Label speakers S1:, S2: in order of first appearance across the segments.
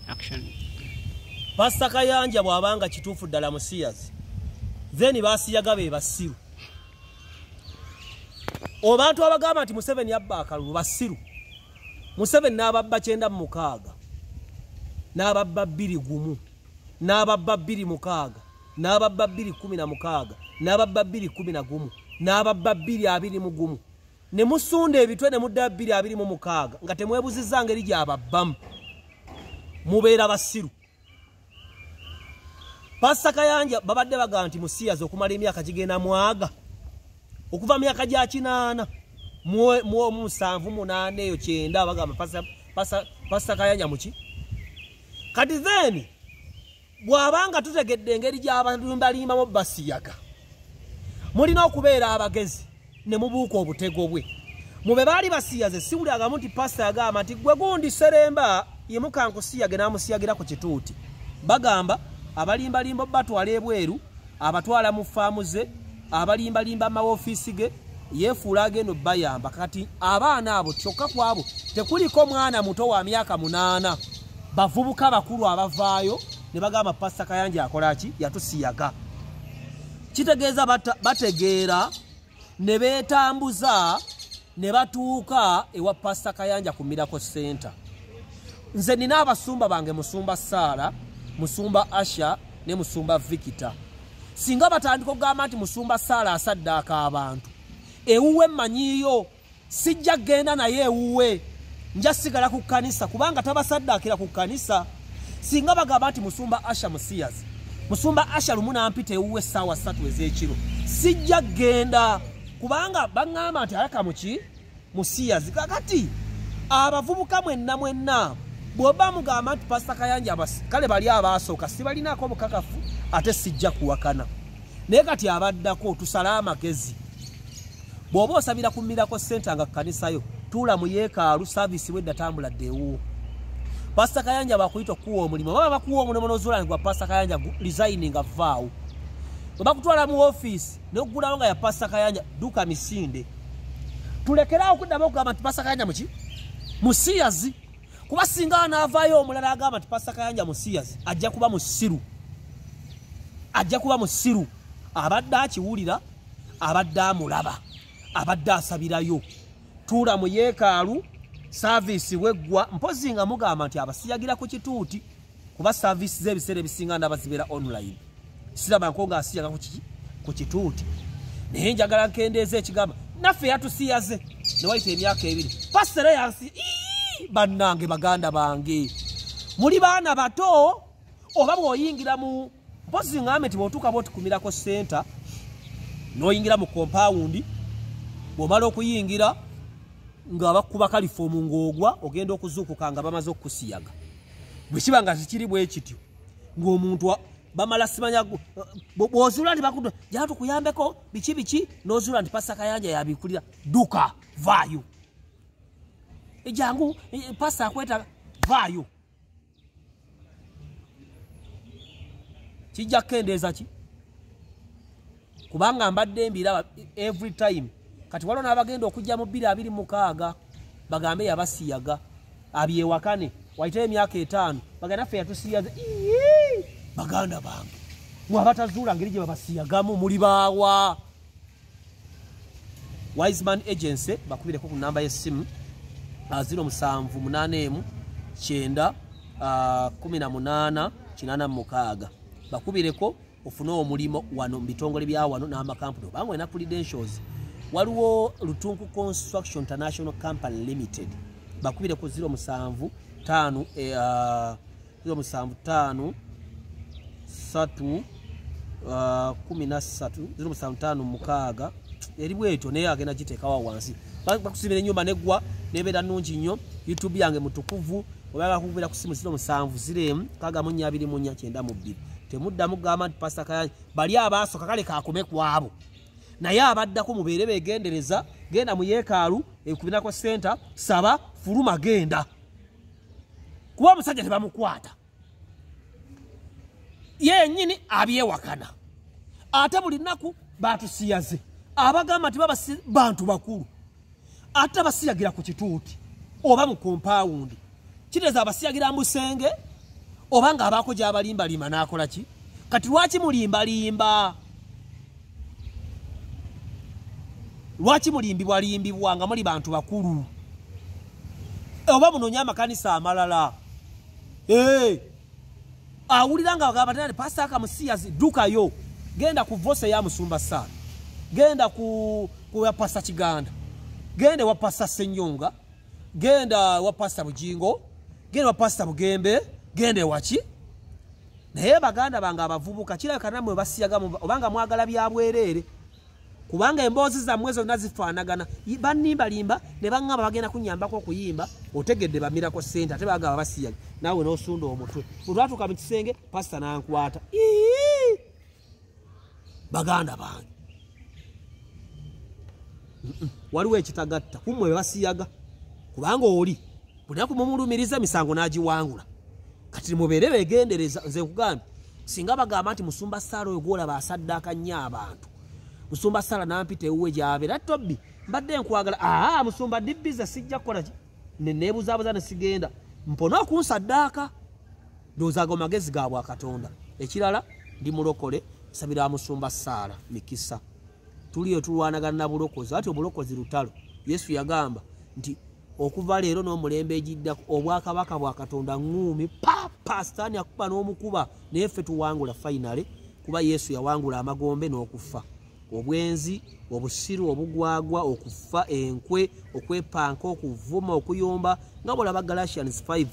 S1: action
S2: pastor kayanja bwabanga kituufu ddala musiyazi then basiyaga be basiru obantu abagamba nti museveni yabba akalulu basiru museveni n'ababba kyenda mumukaaga n'ababba bbiri gumu n'ababba bbiri mukaaga n'ababba bbiri kumi na mukaaga n'ababba bbiri kumi na gumu n'ababba bbiri abiri mu gumu ne musunda ebitwe ne mudda bbiri abiri mu mukaaga nga temwebuzizza ngeri gyababbamu mubeera basiru pasta kayanja babadde bagamba nti musiyazi okumala emyaka gigenda mwaga okuva myaka gya kinaana muomusanvu munaana eyo kyenda bagamba pasta kayanja muki kati then bw'aba nga tutegedde engeri gy'abalimbalimbamu basiyaga mulina okubeera abagezi ne mubuuka obutego bwe mu be baali basiyaze siwuli agamu nti pasita yagamba nti gwe gundi seremba yemukankusiyage n'amusiyagira ku kituuti bagamba abalimbalimba batwala ebweru abatwala mu faamu ze abalimbalimba amawofiisi ge yefuula agenda obayamba kati abaana abo kyokka ku abo tekuliko mwana muto wa myaka munaana bavubuka bakulu abavaayo ne bagamba pasita kayanja akola ki yatusiyaga kitegeeza bategeera ne beetambuza ne batuuka ewa pasita kayanja ku mirako center nze nina abasumba bange musumba saara musumba asha ne musumba vikita singa batandika okugamba nti musumba saala asaddaaka abantu ewuwe mmanyiiyo sijja kgenda naye ewuwe nja sigala ku kkanisa kubanga tabasaddaakira ku kkanisa singa bagamba nti musumba asha musiyazi musumba asha lumu nampita ewuwe essaawa ssatu ez'ekiro sijja kgenda kubanga baŋŋamba nti ayaka muki musiyazi kakati abavubuka mwenna mwenna bwoba mugamba nti pasita kayanja kale bali abaasooka sibalinaako bukakafu ate sijja kuwakana naye kati abaddako tusale amagezi bw'oba osabira ku mirako senta nga kukanisayo tuula mu yeekaalu saaviisi wedda tambula ddeewuwo pasita kayanja bakuyita okukuwa omulimu oba bakuwa omulimu nozuula nti gwa pasita kayanja lizayininga vaawo bwe bakutwala mu ofiisi nokugulawo nga ya pasta kayanja duka misinde tulekerawo okuddamu okugamba nti pasta kayanja muki musiyazi kuba singa anaavaayo omulala agamba nti pasta kayanja musiyazi ajja kuba musiru ajja kuba musiru abadde akiwulira abadde amulaba abadde asabirayo tuula mu yeekaalu saaviisi weggwa mpozi nga mugamba nti abasiyagira ku kituuti kuba service ze bisere bisinga ndaba zibera online sira banko nga asiya ku kiki ku kituti naye njagala nkendeeze ekigamba naffe yatusiyaze ne wayita emyaka ebiri pasere yansi bannange baganda bange muli baana bato oba bwoyingira mu mpozi ngambe nti bwotuuka bwotukumirako senta noyingira mu kompawundi bwomala okuyingira nga bakuba kalifoomu ng'ogwa ogenda okuzuukuka nga bamaze okukusiyaga bwe kiba nga zikiri bwe kityo ng'omuntu bamala simanya bw'ozuula nti bakuda jaa tukuyambeko biki biki n'ozuula nti pasa kayanja yabikulira duka vaayo ejangu e, pasa akweta vaayo kijja kukendeeza ki kubanga mbadde mbiraba every time kati waliwo n'abagenda okujja mu bbiri abiri mukaaga bagambe yabasiyaga abyewakane waiteyo emyaka etaano bagenda ffe yatusiyaza baganda bange mwabatazuula ngeri gye babasiyagamu muli baawa wiseman agency bakubireko ku namba y'essimu ah, ziro musanvu munaana emu kyenda ah, kumi na munaana kinaana mumukaaga bakubireko ofune omulimu wano mu bitongole bya wano n'amakampuni obanga olina credentials waliwo lutunku construction international company limited bakubireko ziro musanvu taano eh, ah, kilo musanvu taano satu uh, kumi na satu ziro musanvu taano mukaaga eri bwetyo naye agenda giteekawa wansi bakusimira enyumba negwa nebeera nungi nnyo youtube yange mutukuvu obaga kukubira ku simu ziro musanvu ziro emu kaaga mu nnya abiri mu nnya kyenda mu bbiri temuddamu gamba nti pasita kayanyi bali abaasoka kale kakume kwabo naye abaddako mubeere begendereza genda mu yeekaalu ekubinako senta saba fuluma genda kuba omusajja tebamukwata yenyini abyewakana ate buli nnaku batusiyaze abagamba nti babasi bantu bakulu ate abasiyagira ku kituuti oba mu kompawundi kiteeza abasiyagira mu busenge oba ng'abaako gyabalimbalima n'akola ki kati lwaki mulimbalimba lwaki mulimbibwa limbibwa nga muli bantu bakulu oba munoonye amakanisa amalala eh! awulira nga bagamba tena pasita akamusiyazi dukayo genda ku vose ya musumba saala genda ku ya pasita kiganda genda ewa pasita senyonga genda ewa pasita bujingo genda ewa pasita bugembe genda ewaki naye baganda bange abavubuka kirabika namwe basiyaga obanga mwagala byabwereere kubanga emboozi zammwe zonna zifaanagana banimbalimba ne baŋŋamba bagenda kunyambako okuyimba otegedde bamirako ssente ate bagamba basiyaga naawe n'osunda omutwe bwe twatuuka mu kisenge pasita n'ankwata ii baganda bange waliwo ekitagatta kumwe bebasiyaga kubanga oli bunaku mumulumiriza emisango nagiwangula kati mubeere begendereza nze nkugambye singa bagamba nti musumba saala oyo gwolaba asaddaaka nnyo abantu musumba saala nampita ewuwe gyabeera tobbi mbadde nkwagala aa musumba dibbiza sijja kukolaki nenebuzabuza nesigenda mpone okunsaddaaka ndowooza ago magezi ga bwakatonda ekirala ndi mulokole nsabira musumba saala mikisa tuliyo tulwanagana na bulokozi ati obulokozi lutalo yesu yagamba nti okuva leero n'omulembe egiddako obwakabaka bwa katonda ŋuumi papa sitaani akuba n'omukuba naye ffe tuwangula fayinale kuba yesu yawangula amagombe n'okufa obwenzi obusiru obugwagwa okufa enkwe okwepanka okuvuma okuyomba nga bolaba galatians 5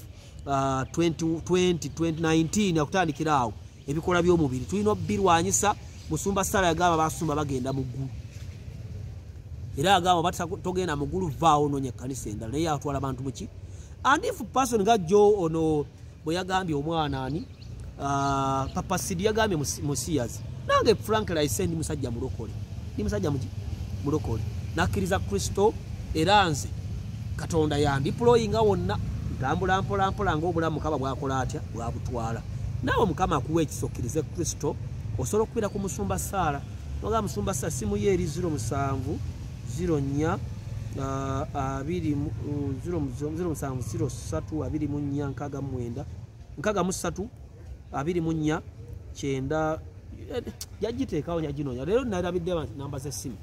S2: uh, 20, 20, 2019 akutandikira awo ebikola by'omubiri tulina obirwanyisa musumba sala yagamba basumba bagenda mu ggulu era agamba bati togenda mu ggulu vaawo noonya ekkanisa endala naye atwala bantu muki and if person nga jo ono bwe yagambye omwana ani ah, papa sidi yagambye musiyazi nange frank laise ndi musajja mulokole ndi musajja mulokole nakkiriza kristo era nze katonda yandiployinga wonna ntambula mpolampola ngaobulamu mukama bwakola atya bwabutwala naawe mukama akuwa ekisokkirize kristo osobola okubira ku musumba saala noga musumba saala simuyo eri ziro musanvu ziro nnya abiri ziro musanvu ziro ssatu abiri mu nnya nkaaga mu mwenda nkaaga mu ssatu abiri mu nnya kyenda eh, yagiteekawo yaginoonya leero nalabidde namba z'essimu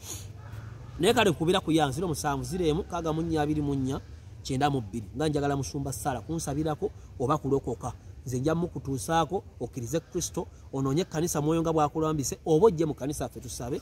S2: naye kale kubira ku ya ziro musanvu ziro emu nkaaga mu nnya abiri mu nnya kyenda mu bbiri nga njagala musumba ssaala kunsabirako oba kulokoka nze nja mukutuusaako okkirize kristo onoonye ekkanisa mwoyo nga bwakulambise oba ojje mu kanisa ffe tusabe